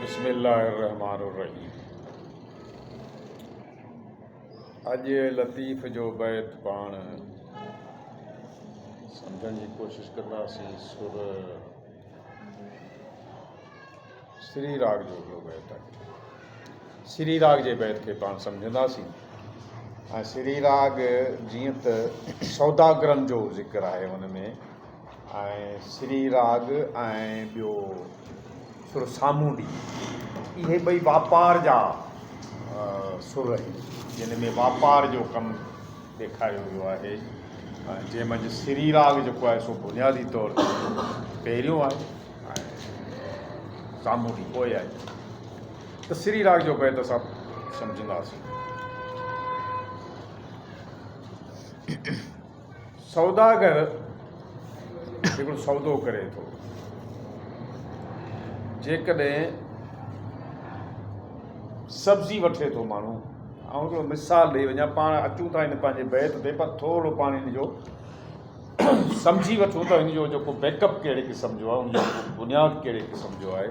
بسم الله الرحمٰن الرحيم اڄ لطيف جو بيت پاڻ سمجهڻ جي ڪوشش ڪنداسين سر سري راڳ جو هڪڙو بيت آهي سري راڳ جي بيت کي پاڻ سمجهنداسين ۽ سري راڳ جيئن ته سوداگرن جو ذڪر آهي ان ۾ ۽ سري راڳ ۽ ٻيو سر سامونڊي اهي ٻئي واپار جا سر آهن جن ۾ واپار جو ڪم ڏيکاريو ويو آهي جنهن منجهه سري راڳ جيڪو آهي سو بنيادي طور تي پهريون آهي ۽ سامونڊي پوء آهي ته سري راڳ جو بيت اسان سمجهنداسين سوداگر هڪڙو سودو ڪري ٿو، جيڪڏهن سبزي وٺي ٿو ماڻهو، آئون هڪڙو مثال ڏئي وڃان، پاڻ اچون ٿا هن پنهنجي بيت تي پر ٿورڙو پاڻ هن جو سمجهي وٺون ته هن جو جيڪو بيڪ اپ ڪهڙي قسم جو آهي، هن جو بنياد ڪهڙي قسم جو آهي.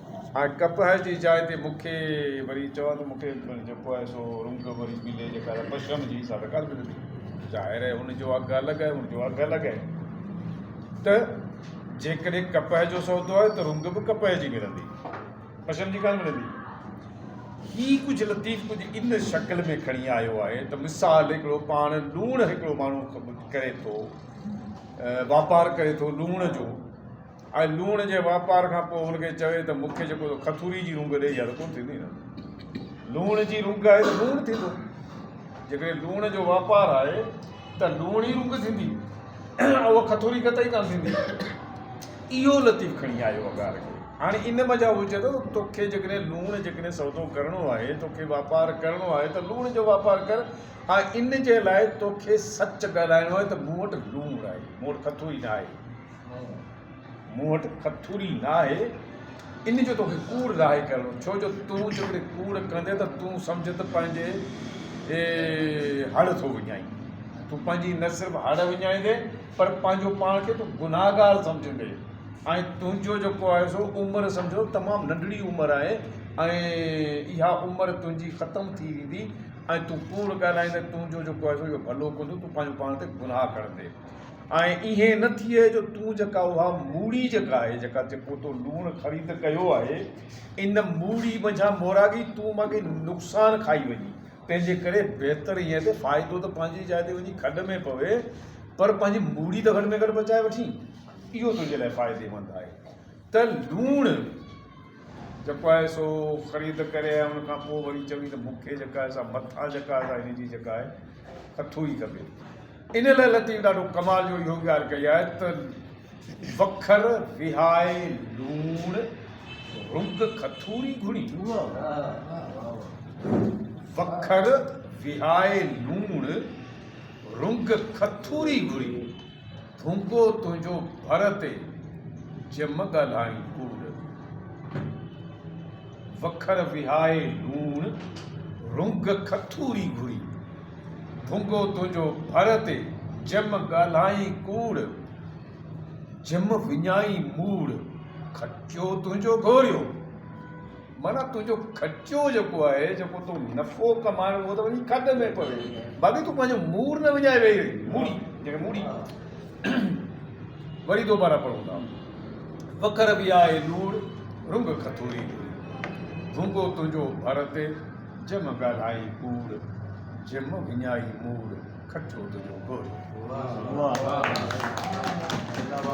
هاڻي ڪپهه جي جاء تي مون کي وري چئو ته مون کي جيڪو آهي سو رنگ وري ملي جيڪا آهي پشرم جي حساب سان قرض ملي ظاهر آهي ان جو اگهه الڳ آهي ان جو اگهه الڳ آهي ته جيڪڏهن ڪپهه جو سودو آهي ته رنگ به ڪپهه جي ملندي پشرم جي ڪانه ملندي هي ڪجهه لطيف ڪجهه ان شڪل ۾ کڻي آيو آهي ته مثال هڪڙو پاڻ لوڻ هڪڙو ماڻهو ڪري ٿو واپار ڪري ٿو لوڻ جو ۽ لوڻ جي واپار کان پوء هن کي چوي ته مون کي جيڪو تو کٿوري جي رونگ ڏئي اها ته ڪونه ٿيندي نه لوڻ جي رونگ آهي ته لوڻ ٿيندو جيڪڏهن لوڻ جو واپار آهي ته لوڻ ئي رونگ ٿيندي اها کٿوري قطعي ڪانه ٿيندي اهو لطيف کڻي آيو اگار کي هاڻي ان مان جا هو چئي ٿو توکي جيڪڏهن لوڻ جيڪڏهن سودو ڪرڻو آهي توکي واپار ڪرڻو آهي ته لوڻ جو واپار ڪر ۽ ان جي لاء توکي سچ ڳالهائڻو آهي ته مون وٽ لوڻ آهي مون وٽ کٿوري نه آهي مون وٽ کٿوري ناهي، ان جو توکي ڪوڙ ظاهر ڪرڻو، ڇو جو تون جيڪڏهن ڪوڙ ڪندين ته تون سمجهه ته پنهنجي هڙ ٿو وڃائين. تون پنهنجي نه صرف هڙ وڃائيندين پر پنهنجو پاڻ کي تون گنهگار سمجهندين ۽ تنهنجو جيڪو آهي سو عمر سمجهه تمام ننڍڙي عمر آهي ۽ اها عمر تنهنجي ختم ٿي ويندي ۽ تون ڪوڙ ڳالهائيندين تنهنجو جيڪو آهي سو اهو ڀلو ڪونه ٿيندو تون پنهنجو پاڻ تي گناهه کڻندين. ۽ ائين نه ٿئي جو تون جيڪا اها موڙي جيڪا آهي جيڪا جيڪو تو لوڻ خريد ڪيو آهي ان موڙي منجهان موراڳي تون مان ڪي نقصان کائي وڃي تنهنجي ڪري بهتر ائين آهي ته فائدو ته پنهنجي جاء تي وڃي کڏ ۾ پوي پر پنهنجي موڙي ته گهٽ ۾ گهٽ بچائي وٺين اهو تنهنجي لاء فائديمند آهي ته لوڻ جيڪو آهي سو خريد ڪري ۽ ان کان پوء وري چوي ته مون کي جيڪا آهي سا مٿان جيڪا آهي سا هن جي جيڪا آهي ڪٿو ئي کپي ان لاء لطيف ڏاڍو ڪمال جو اهو ڳالهه ڪئي آهي ته وکر وهائي لوڻ رڳ کٿوري گهڙي وکر وهائي لوڻ رڳ کٿوري گهڙي ڀونڪو تنهنجو ڀر تي جم ڳالهائين ڪوڙ وکر وهائي لوڻ رنگ کٿوري گهري. ڀونگو تنهنجو ڀر تي جم ڳالهائين ڪوڙ. جم وڃائين موڙ کٽيو تنهنجو گهوريو. معنيٰ تنهنجو کٽيو جيڪو آهي جيڪو تو نفعو ڪمائڻ اهو ته وڃي کڏ ۾ پوي باقي تون پنهنجو موڙ نه وڃائي ويهي رهين. موڙي جنهن کي موڙي وري دوباره پڙهون ٿا. وکر به آهي لوڙ، رنگ کٿوري جوڙي. ڀونگو تنهنجو ڀر تي، جم ڳالهائين ڪوڙ. جم وڃائي موڙ، کٽيو تنهنجو گهوڙو.